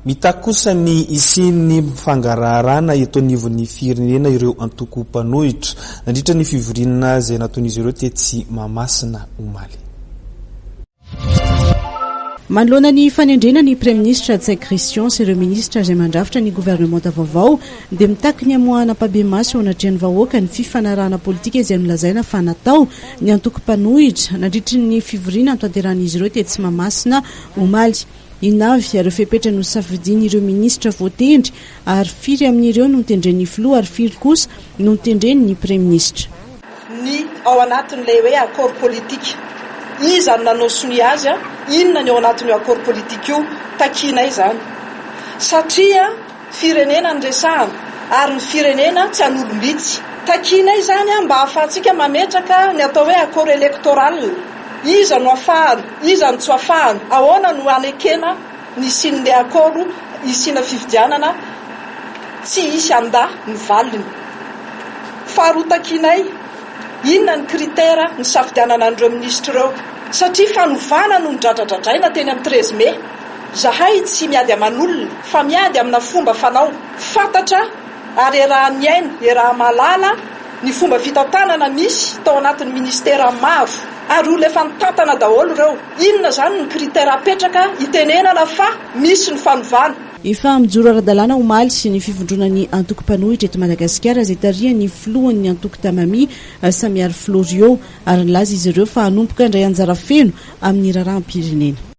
Mitaky kosa ny hisian'ny fangaraharana eto anivon'ny firenena ireo antoko mpanohitra, nandritra ny fivoriana izay nataon'izy ireo tetsy Mahamasina omaly. Manoloana ny fanendrena ny praiminisitra Ntsay Christian sy ireo minisitra izay mandrafitra ny governemanta vaovao dia mitaky ny hamoahana ampahibemaso eo anatrehan'ny vahoaka ny fifanarahana politika izay nolazaina fa natao ny antoko mpanohitra nandritry ny fivoriana notanterahin'izy ireo tetsy Mahamasina omaly. Inona avy ireo fepetra nosafidian'ireo minisitra voatendry ary firy amin'ireo notendren'ny filoha ary firy kosa notendren'ny praiminisitra? Ny ao anatin'ilay hoe accord politique, iza no nanao sonia azy? Inona ny ao anatin'io accord politique io? Takianay izany satria. firenena no resahana ary ny firenena tsy an'olom-bitsy. Takianay izany mba hahafahantsika mametraka ny atao hoe accord électoral. Iza no afahana, iza no tsy afahana, ahoana no hanekena ny hisian'ilay accord hisiana fifidianana tsy hisy handa ny valiny. Faharoa takianay, inona ny critère nisafidianana an'ireo minisitra ireo satria fanovana no nidradradradraina teny amin'ny treize mai. Zahay tsy miady aman'olona fa miady amina fomba fanao fantatra ary iarahan'ny aina, iaraha-mahalala ny fomba fitantanana misy tao anatin'ny ministera maro ary olona efa nitantana daholo ireo, inona izany ny critère apetraka hitenenana fa misy ny fanovana. Efa mijoro ara-dalàna omaly ny fivondronan'ny antoko mpanohitra eto Madagasikara izay tarihan'ny filohan'ny antoko Tamami, Samiaro Florio ary nilaza izy ireo fa hanomboka handray anjara feno amin'ny raharaham-pirenena.